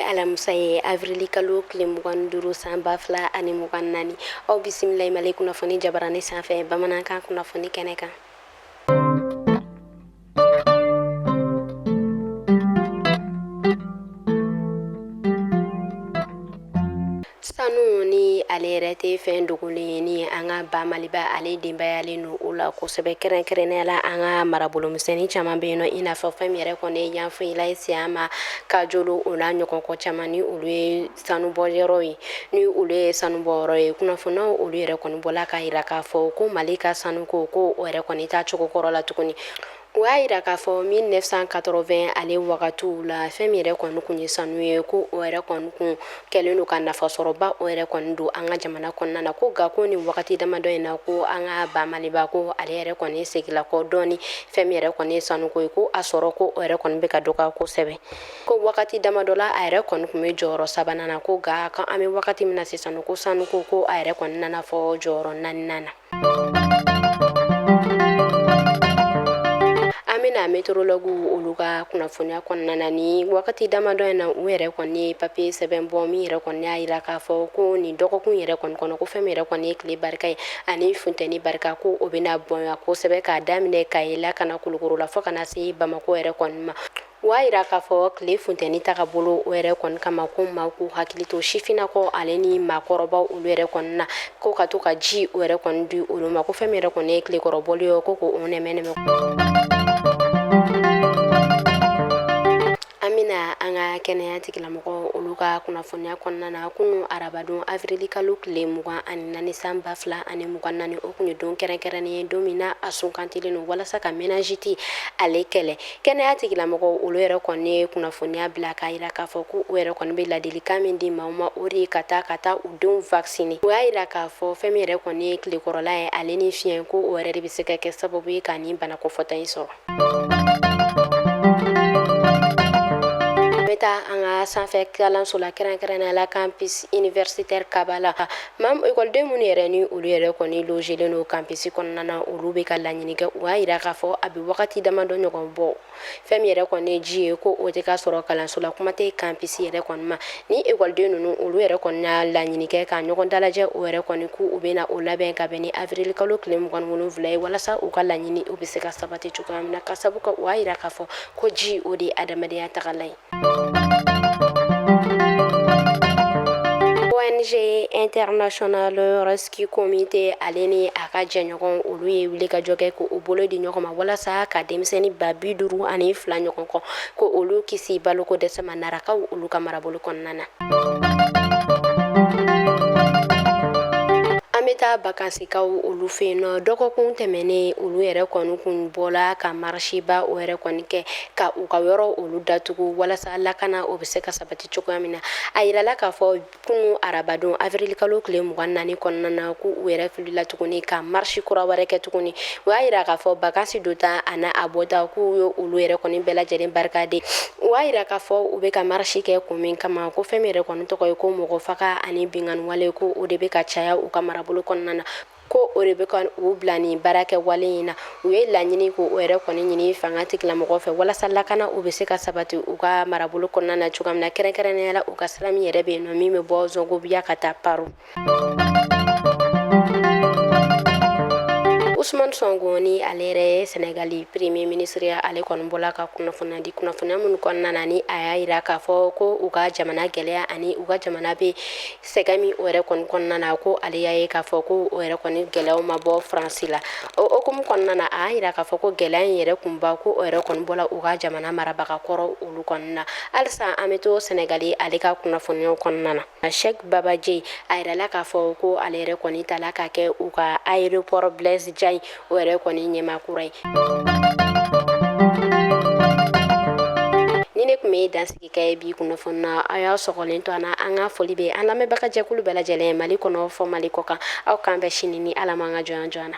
alamisa ye avrili kalo tile mugan duuru san ba fila ani mugan naani aw bisimila i mali kunnafoni jabarani sanfɛ bamanankan kunnafoni kɛnɛ kan sanu ni ale yɛrɛ tɛ fɛn dogolen ye ni an ka ba maliba ale denbayalen don o la kosɛbɛ kɛrɛnkɛrɛnnenya la an ka marabolomisɛnnin caman bɛ yen nɔ i n'a fɔ fɛn min yɛrɛ kɔni ye yanfolila ye siyama kajolo o n'a ɲɔgɔn kɔ caman ni olu ye sanubɔyɔrɔ ye ni olu ye sanubɔyɔrɔ ye kunnafoniw olu yɛrɛ kɔni bɔla k'a jira k'a fɔ ko mali ka sanuko ko o yɛrɛ kɔni t'a cogo kɔrɔ la tuguni o y'a jira k'a fɔ 1980 ale wagatiw la fɛn min yɛrɛ kɔni kun ye sanu ye ko o yɛrɛ kɔni kun kɛlen don ka nafasɔrɔba o yɛrɛ kɔni don an ka jamana kɔnɔna na ko nka ko nin wagati damadɔ in na ko an ka ba maliba ko ale yɛrɛ kɔni segila kɔ dɔɔni fɛn min yɛrɛ kɔni ye sanuko ye ko a sɔrɔ ko o yɛrɛ kɔni bɛ ka dɔgɔya kosɛbɛ ko wagati damadɔ la a yɛrɛ kɔni kun bɛ jɔyɔrɔ sabanan na ko nka kan an bɛ wagati min na sisan ko sanuko ko a yɛrɛ kɔni nana fɔ jɔyɔrɔ naaninan na an bɛna météorologue olu ka kunnafoniya kɔnɔna na ni wagati damadɔ in na u yɛrɛ kɔni ye papiye sɛbɛn bɔ min yɛrɛ kɔni y'a jira k'a fɔ ko nin dɔgɔkun yɛrɛ kɔni kɔnɔ ko fɛn min yɛrɛ kɔni ye tile barika ye ani funteni barika ko o bɛna bonya kosɛbɛ k'a daminɛ kayi la ka na kulukoro la fo ka na se bamakɔ yɛrɛ kɔni ma O y'a jira k'a fɔ tile funteni tagabolo o yɛrɛ kɔni kama ko maa k'u hakili to sifinnakaw ale ni maakɔrɔba olu yɛrɛ kɔni na ko ka to ka ji o yɛrɛ kɔni di olu ma ko fɛn min yɛrɛ kɔni ye tilekɔrɔbɔli ye ko k'o nɛmɛnɛmɛ an bɛna an ka kɛnɛya tigilamɔgɔ olu ka kunnafoniya kɔnɔna na kunu arabadon avrili kalo tile mugan ani naani san ba fila ani mugan naani o kun ye don kɛrɛnkɛrɛnnen ye don min na a sugandilen don walasa ka méningite ale kɛlɛ kɛnɛya tigilamɔgɔ olu yɛrɛ kɔni ye kunnafoniya bila k'a jira k'a fɔ ko u yɛrɛ kɔni bɛ ladilikan min di maaw ma o de ye ka taa ka taa u denw vacciner u y'a jira k'a fɔ fɛn min yɛrɛ kɔni ye tilekɔrɔla ye ale ni fiɲɛ ko o yɛrɛ de bɛ se ka kɛ sababu ye ka nin bana kofɔta in sɔrɔ. bɛ taa an ka sanfɛ kalanso la kɛrɛnkɛrɛnnenya la campus universitaire Kabala Maa ekɔliden minnu yɛrɛ ni olu yɛrɛ kɔni logelen don campus kɔnɔna na olu bɛ ka laɲini kɛ u y'a jira k'a fɔ a bɛ wagati damadɔ ɲɔgɔn bɔ fɛn min yɛrɛ kɔni ye ji ye ko o tɛ ka sɔrɔ kalanso la kuma tɛ campus yɛrɛ kɔni ma ni ekɔliden ninnu olu yɛrɛ kɔni y'a laɲini kɛ ka ɲɔgɔn dalajɛ o yɛrɛ kɔni ko u bɛna o labɛn ka bɛn ni avrili kalo tile mugan wolonwula ye walasa u ka laɲini o bɛ se ka sabati cogoya min na k'a sabu kɛ u y'a jira k'a fɔ ko ji o de ye adamadenya tagalan ye ONG International Rescue Committee ale ni a ka jɛɲɔgɔn olu ye wuli ka jɔ kɛ ko u bolo di ɲɔgɔn ma walasa ka denmisɛnnin ba bi duuru ani fila ɲɔgɔn kɔ ko olu kisi baloko dɛsɛ ma narakaw olu ka marabolo kɔnɔna na. An bɛ taa bakansikaw olu fɛ yen nɔ dɔgɔkun tɛmɛnen olu yɛrɛ kɔni kun bɔla ka marisiba o yɛrɛ kɔni kɛ ka u ka yɔrɔ olu datugu walasa lakana o bɛ se ka sabati cogoya min na a yirala k'a fɔ kunun arabadon awirilikalo tile mugan naani kɔnɔna na ko u yɛrɛ wulila tuguni ka marisi kura wɛrɛ kɛ tuguni u y'a yira k'a fɔ bakansi donda ani a bɔda k'u ye olu yɛrɛ kɔni bɛɛ lajɛlen barikade u y'a yira k'a fɔ u bɛ ka marisi kɛ kun min kama ko fɛn min yɛrɛ kɔni tɔgɔ ye ko mɔgɔ faga ani binkanniwale ko o de bɛ ka caya u ka marabolo kɔnɔna na ko o de bɛ ka u bila nin baara kɛwale in na u ye laɲini ko o yɛrɛ kɔni ɲini fanga tigilamɔgɔ fɛ walasa lakana u bɛ se ka sabati u ka marabolo kɔnɔna na cogoya min na kɛrɛnkɛrɛnnenya la u ka sira min yɛrɛ bɛ yen nɔ min bɛ bɔ zɔngobiya ka taa paro Ousmane Sonko ni ale yɛrɛ ye Senegali premier ministre ye ale kɔni bɔla ka kunnafoniya di kunnafoniya minnu kɔnɔna na ni a y'a jira k'a fɔ ko u ka jamana gɛlɛya ani u ka jamana bɛ sɛgɛn min o yɛrɛ kɔni kɔnɔna na ko ale y'a ye k'a fɔ ko o yɛrɛ kɔni gɛlɛyaw ma bɔ faransi la o hukumu kɔnɔna na a y'a yira k'a fɔ ko gɛlɛya in yɛrɛ kunba ko o yɛrɛ kɔni bɔla u ka jamana marabaga kɔrɔ olu kɔnɔna na halisa an bɛ to sɛnɛgali ale ka kunnafoniyaw kɔnɔna na Cheikh Bamba Dièye a yirala k'a fɔ ko ale yɛrɛ kɔni tala ka kɛ u ka aéroport Blaise Diagne o yɛrɛ kɔni ɲɛmaa kura ye nin de tun bɛ dansigi I ka bi kunnafoni na a y'a sɔgɔlen to an na an ka foli bɛ an lamɛnbagajɛkulu bɛɛ lajɛlen mali kɔnɔ fɔ mali kɔ kan aw k'an bɛn sini ni ala ma an ka jɔnya jɔ an na